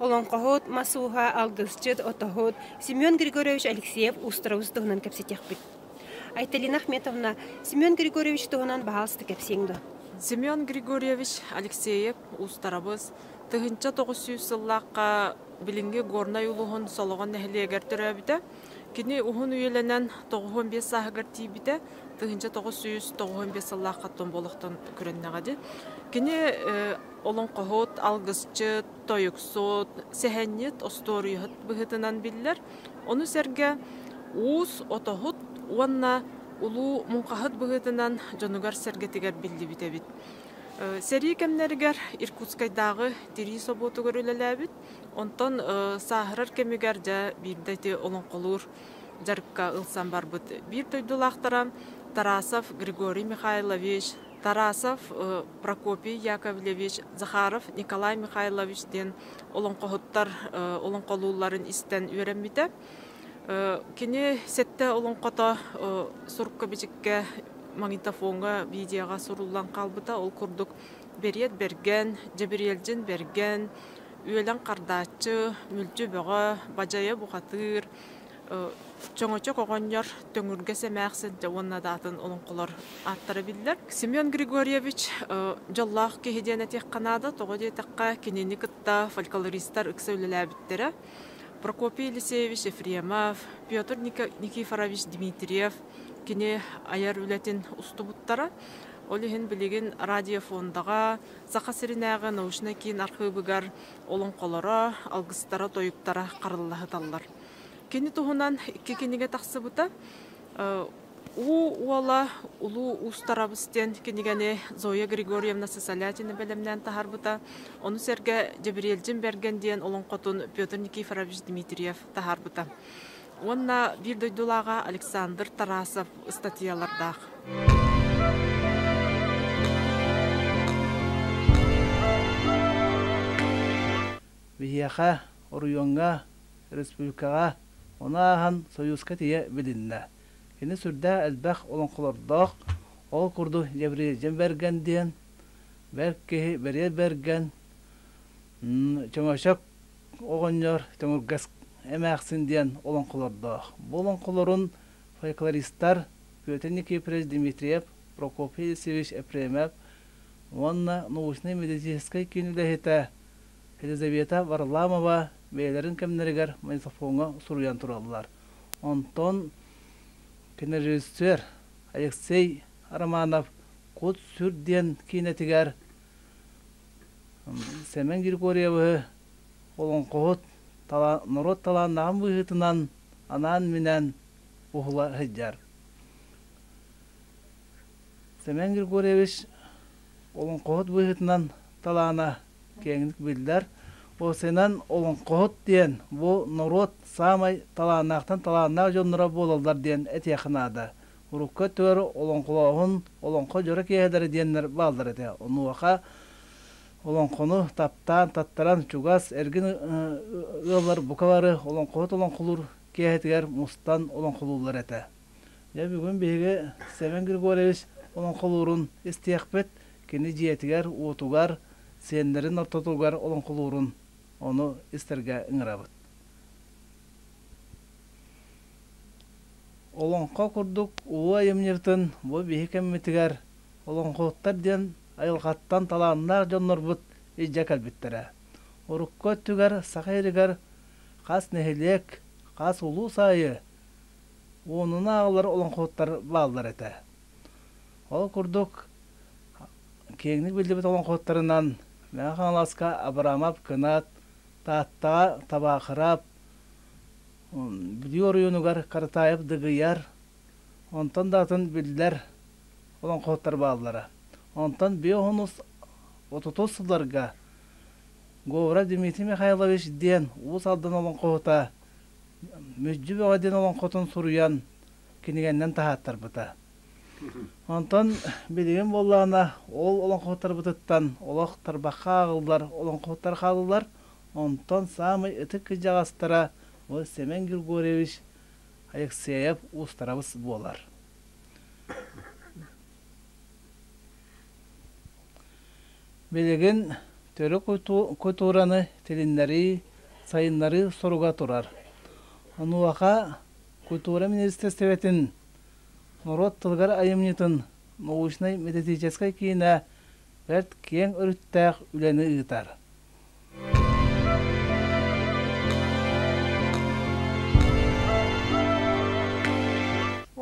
олоҥхоһут, мас ууһа, алгысчыт, отоһут Семен Григорьевич Алексеев Устуровус туһунан кэпсэтиэхпит. Айталина Ахметовна, Семен Григорьевич туһунан баһаалыста кэпсиэҥ дуо? Семен Григорьевич Алексеев Устарабыс тыһыынча тоҕус сүүс сыллаахха билиҥҥи Горнай улууһун Солоҕон нэһилиэгэр төрөөбүтэ. Кини уһун үйэлэнэн тоҕуһун биэс сааһыгар тиийбитэ, тыһыынча тоҕус сүүс тоҕуһун биэс сыллааххаттан буолахтан күрэннэҕэ дии. Кини олоҥхоһут, алгысчыт, Тойуксут, сэһэнньит остуоруйаһыт быһыытынан биллэр, ону сэргэ уус, отоһут уонна улуу муҥхаһыт быһыытынан дьонугар-сэргэтигэр биллибит эбит. Сэрии кэмнэригэр Иркутскайдааҕы тирии собуотугар үлэлээбит, онтон сааһырар кэмигэр дьэ биирдэ ити олоҥхолуур дьарыкка ылсан барбыт. Биир дойдулаахтара Тарасов Григорий Михайлович Тарасов Прокопий Яковлевич, Захаров Николай Михайлович диэн олоҥхоһуттар олоҥхолуулларын истэн үөрэммитэ. Кини сэттэ олоҥхото сурка-бичиккэ, магнитофоҥҥа, видеоҕа суруллан хаалбыта. Ол курдук Бэриэт Бэргэн, Дьэбириэлдьин Бэргэн, Үөлэн Хардааччы, Мүлчү Бөҕө, Бадьайа Бухатыыр, Чөҥөчөк оҕонньор Төҥүргэс эмээхсин уонна даатын олоҥхолор ааттара биллэр. Семен Григорьевич дьоллоох киһи диэн этиэххэ наада. Тоҕо диэтэххэ, кинини кытта фольклористар ыкса үлэлээбиттэрэ. Прокопий Елисеевич Ефремов, Петр Никифорович Дмитриев кини айар үлэтин устубуттара. Ол иһин билигин радиофондаҕа Саха сиринээҕи научнай киин архыыбыгар олоҥхолоро, алгыстара-тойуктара хараллаһыталлар. Кини туһунан икки кинигэ тахсыбыта. Уу уола улуу уустарабыс диэн кинигэни Зоя Григорьевна Сысолятина бэлэмнээн таһаарбыта. Ону сэргэ Дьэбириэлдьин Берген диэн олоҥхотун Петр Никифорович Дмитриев таһаарбыта. уонна биир дойдулааҕа Александр Тарасов ыстатыйалардаах. Биһиэхэ, оройуоҥҥа, республикаҕа ону ааһан Союзка тиийэ билиннэ. Кини сүрдээх элбэх олоҥхолордоох, ол курдук Гавриил Берген диэн, бэрт киһи Бэриэл Берген, Чөҥөчөк оҕонньор Төҥүргэс эмээхсин диэн олоҥхолордоох. Бу олоҥхолорун фольклористар Петенникепреч Дмитриев, Прокопий Алексеевич Епремев уонна научнай-медицинскэй киин үлэһитэ Елизавета Варламова бэйэлэрин кэмнэригэр магнитофоҥҥа суруйан тураллар. Онтон кинорежиссер Алексей Романов Кут-сүр диэн киинэтигэр Сэмэн Григорьевы олоҥхоһут норуот талааннаахын быһыытынан анаан-минээн уһула сылдьар. Сэмэн Григорьевич олоҥхоһут быһыытынан талаана киэҥник биллэр. Осинан олоҥхоһут диэн бу норуот саамай талааннаахтан талааннаах дьонноро буолаллар диэн этиэххэ наада. урукку өттүгэр олоҥхолооһун олоҥхо дьоро киэһэлэрэ диэннэр бааллар этэ онуоха олоҥхону таптаан таттаран чугас эргин ыаллар бука бары олоҥхоһут олоҥхолуур киэһэтигэр мустан олоҥхолууллар этэ дьэ бүгүн биһиги Семен Григорьевич олоҥхолуурун истиэхпит кини дьиэтигэр уотугар сиэннэрин ортотугар олоҥхолуурун ону истэргэ ыҥырабыт Олоҥхо курдук улуу айымньытын бу биһи кэммитигэр олоҥхоһуттар диэн айылҕаттан талааннаах дьоннорбут илдьэ кэлбиттэрэ. Урукку өттүгэр Саха сиригэр хас нэһилиэк, хас улуус аайы уонуна аҕалар олоҥхоһуттар бааллар этэ. Ол курдук киэҥник биллибит олоҥхоһуттарынан Мэҥэ Хаҥаласка Абрамов Кынат, Тааттаҕа Табаахыраап, Бүлүү оройуонугар Каратаев Дыгыйар, онтон да атын биллэр олоҥхоһуттар бааллара. Онтон биоһунус отутус сылларга Говора Дмитрий Михайлович диэн Уус Алдан олоҥхоһута Мүдьү Бөҕө диэн олоҥхотун суруйан кинигэннэн таһааттарбыта. Онтон билигин буоллаҕына ол олоҥхоһуттарбытыттан олох тарбахха ааҕыллар олоҥхоһуттар хааллылар, Онтон саамай ытык кыдьаҕастара ол Семен Григорьевич Алексеев уустарабыс буолар. Билигин төрүк культураны тилиннэрии, сайыннарыы соруга турар. Онуоха культура министерствотын норуот тылыгар айымньытын научнай-методическай киинэ бэрт киэҥ өрүттээх үлэни ыытар.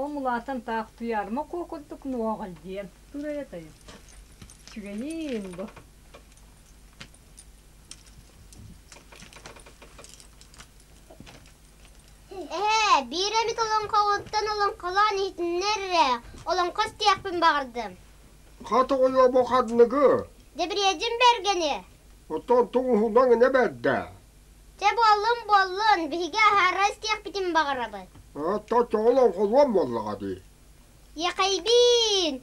Ол улаатан таах туйаарма куо курдук нуоҕай диэн турайа тайыс. Сүгэйиин бу. Эһэ, биир эмит олоҥхоҕуттан олоҥхолоон иһитиннэрэрэ, олоҥхос диэхпин баҕардым. Хатыгыйа бу ханныгы? Дибриэдьим бэргэни. Оттон туҥуһунан инэ бэрдэ. Чэ буоллун буоллун, биһиги аһаара истиэхпитин баҕарабыт. Аттан тоҕол оҥхолуом буоллаҕа дии. Яхайбиин!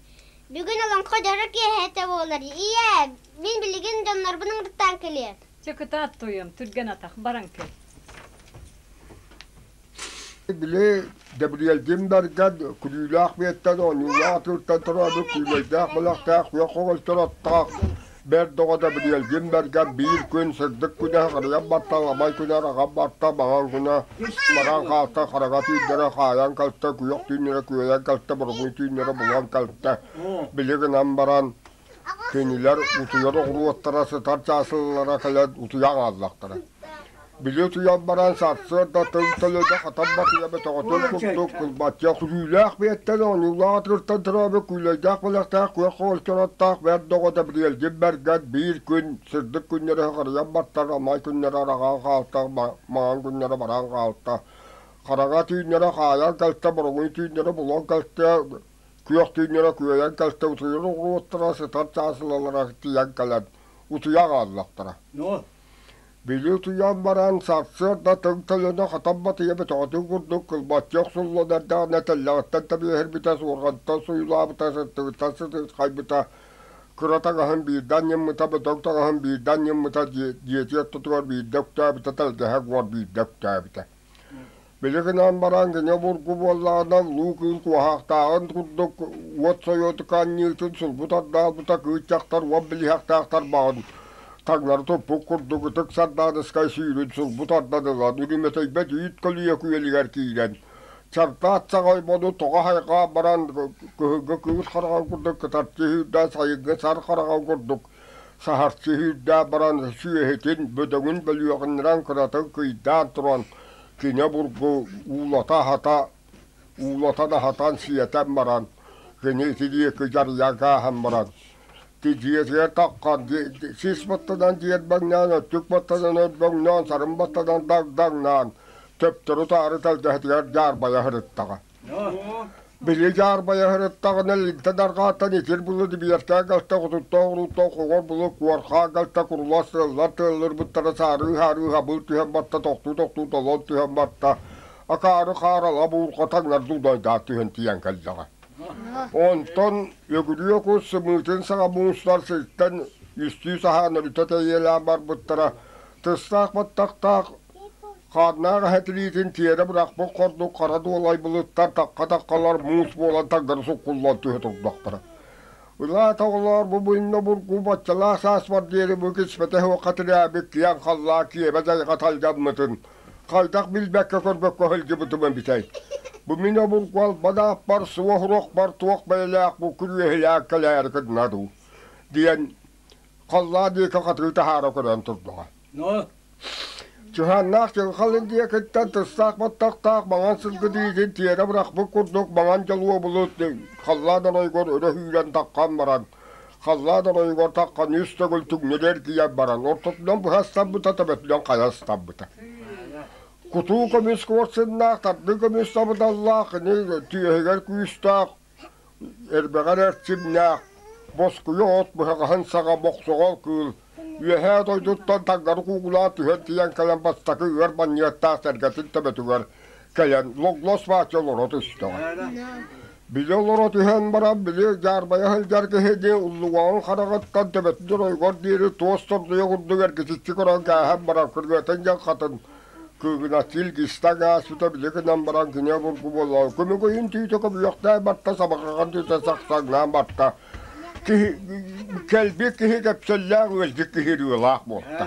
Бүгүн олоҥхо дьоро киэһэтэ буолар. Ийээ, мин билигин дьоннорбун ыҥыртаан кэлиэм. Чэ кытаат туойан, түргэн атах, баран кэл. Били Дэбириэлдьимбэргэр күлүүлээх миэттэн оонньуулаах атыыртан торообут күүлэйдээх бэлэхтээх күөх оҕолоруттан аттаах бэрт доҕо Дэбириэлдьимбэргэ биир күн сырдык күнэ харыйан барта аламай күнэр аҕам барта баҕар күнэ мараҥ хаата хараҥа түүннэрэ хаайан кэлтэ күөх түүннэрэ күөйэн кэлтэ боругун түүннэрэ булан кэлтэ били гынан баран Кинилэр утуйар-оҕуруоттара сытар чаасыллара кэлэн утуйа хааллахтара. Били утуйан баран сарсыарда тыл төлөнө хатан батыйа бөтөҕөтүн курдук кылбачча күлүүлээх бэйэттэн оонньуулаах атырыттан торообу күүлэйдээх бэлэхтээх күөх хоол чоротtaах бэрт доҕото Бриэлдин Бэргэн биир күн сырдык күннэрэ харыйан баттар омай күннэрэ араҕаан хаалта маҥан күннэрэ баран хаалта хараҥа түүннэрэ хаайан кэлтэ бороҥуй түүннэрэ булан кэлтэ күөх түүннэрэ күөйэн көстөбүтүйэн угулуоттара сытар чаасылалара тиийэн кэлэн утуйа хааллахтара били утуйан баран сарсыарда тыҥ тойоно хатан батыйа бөтөҕөтүн курдук кылбаччы охсуллан эрдэҕинэ тэллэҕиттэн тэбиэһирбитэ суорҕантан суйулаабыта сыттыгыттан сытыытхайбыта кыра таҥаһын биирдэ анньыммыта бөтөҥ таҥаһын биирдэ анньыммыта дьиэтигэр тутугар биирдэ өктөөбүтэ тэлгэһэ буор биирдэ өктөөбүтэ Били гынан баран кини обургу буоллаҕына луу кыыл куоһахтааҕын курдук уот сойуотука анньыытын сурбу тардаалбыта кыыччахтар уот билиһэхтээхтэр баҕан таҥнары туппут курдук ытык сардааныскай сүүрүн сурбу тардан ылан үрүмэтэйбэт үүт көлүйэ күөлүгэр киирэн чардаат саҕа оймону тоҕо хайҕаан баран кыһыҥҥы кыыс хараҕын курдук кытарчы сүүрдээн сайыҥҥы сар хараҕын курдук Саһарчы сүүрдээх баран сүөһүтүн, бөдөҥүн бөлүөҕүннэрэн кыратык кыйдаан туран, кинэ бургу уулата-аһата, уулатан аһатан сиэтэн баран, кини ити диэки дьарыйа гааһан баран, дьиэтигэр таххан сис баттанан дьиэрбэҥнээн, өттүк баттанан өрбөҥнөөн, сарын баттанан дагдаҥнаан, төптөрү-таары тэлгэһэтигэр дьаарбайа сырыттаҕа. Били дьаарбайа сырыттаҕына илгитэ даргааттан итир булу дибиэртээ галта хотуттаах уруттаах оҕор булу куорхаа галта курулас сыаллар тыаллырбыттара саарыы-саарыы хабыл түһэн батта тохтуу-тохтуу толон түһэн батта акаары хаарала буурха таҥнар дудайдаа түһэн тиийэн кэллэҕэ онтон өгүрүө кус сымыытын саҥа муустар сиртэн үстүү саһаана бүтэ тэйиэлээн барбыттара тыстаах баттахтаах Хааннаах эһэ тириитин тиэрэ бырахпыт курдук хара дуолай былыттар такка-таккалар муус буолан таггары суккуллан түһэ турдахтара. Ылаата оҕолоор бу мунна бургу баччалаах сааспар диэри бу кисмэтэ уокка тирээбит киэҥ халлаа киэбэ дайҕа тальгаммытын хайдах билбэккэ-көрбөккө сылдьыбытымын битэй. Бу мин обургу албанаахпар суох урахпар туох бэйэлээх бу күрүөһэлээх кэлээри кыдна дуу диэн халлаа диэки хатыы таһаара көрөн турдаҕа. Но Дьуһааннаах дьылҕал индийэ кыттан тыстаах баттахтаах маҥан сылгытыытын тиэрэ бырахпыт курдук маҥан дьолуо булут халлаан оройугар өрө сүүрэн таххан баран, халлаан оройугар тахханыы үстөгүл түҥнүгэр тиийэн баран, ортотунан быһа астаммыта төбөтүнэн хайа астаммыта. Кутуу көмүс куорсуннаах, тардыы көмүс сабыдаллаах, кини түөһүгэр күүстээх Элбэҕи эрэр сирнээх, боскуйа от быһаҕаһын саҕа бохсоҕол кыыл үөһээ дойдуттан таҥнары куугулаан түһэн тиийэн кэлэн бастакы ыар манньыаттаах сэргэтин төбөтүгэр кэлэн логлос бааччы олоро түстэҕэ. Били олоро түһэн баран били дьаарбайа сылдьар киһини уллуҕаҕын хараҕыттан төбөтүн ойугар диэри туос тордуйа курдук эргичиччи көрөн кээһэн баран күрүөтэн дьаҥхатын Кыыгынаттыыл киста гаас тута били гынан баран кини обургу буолла. Күмүгүйүн түүтэ көбүөхтээн барта, сабарҕаҕын түүтэ сахсаҥнаан барта. Киһи кэлби киһи кэпсэллээх үөздик киһи ырыалаах буолта.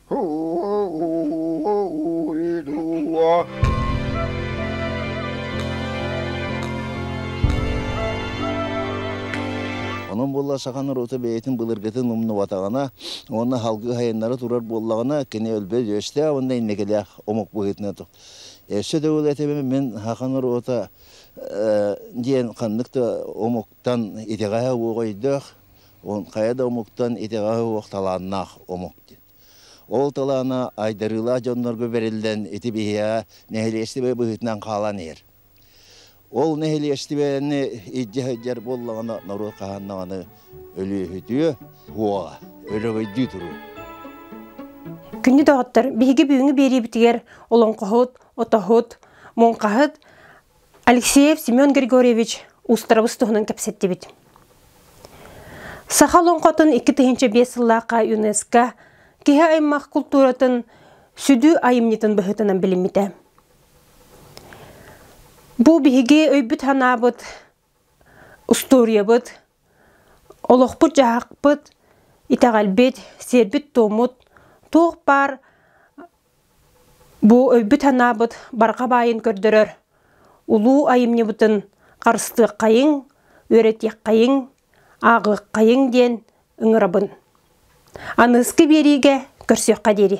Онон буолла сахан норуота бэйэтин былыргытын умнубатаҕына, уонна халгы хайыннары турар буоллаҕына, кини өлбөт өстөөх уонна иннекелээх омук быһыытынан тук. Өссө да ол этебе мен хахан норуота диэн ханнык да омук Тан итэҕэһэ уоҕойдоох, хайа да омуктан итэҕэһэ уох талааннаах омук диэн. Ол талаана айдарыылаах дьоннорго бэриллэн ити биһиэхэ нэһилиэстибэ быһыытынан хаалан иһэр. Ол нэһилиэстибэни илдьэ сылдьар буоллаҕына норуот хаһан даҕаны өлүөхүтүө, уоҕа, өлөгөйдүү туруо. Күннү доҕоттор, биһиги бүгүҥҥү биэриибитигэр олоҥхоһут, отоһут, муҥхаһыт Алексеев Семен Григорьевич устарабыс туһунан кэпсэттибит. Саха олоҥхотун икки тыһыынча биэс сыллаахха ЮНЕСКО киһи аймах култууратын сүдүү айымньытын быһыытынан билиммитэ. Бу биһиги өйбүт-санаабыт, устуоруйабыт, олохпут-дьаһахпыт, итэҕэлбит, сиэрбит-туоммут туох баар Бу өйбүт-санаабыт барҕа баайын көрдөрөр, улуу айымньыбытын харыстыаххайыҥ, үөрэтиэххайыҥ, ааҕыаххайыҥ диэн ыҥырабын. Аныыскы биэриигэ көрсүөххэ диэри.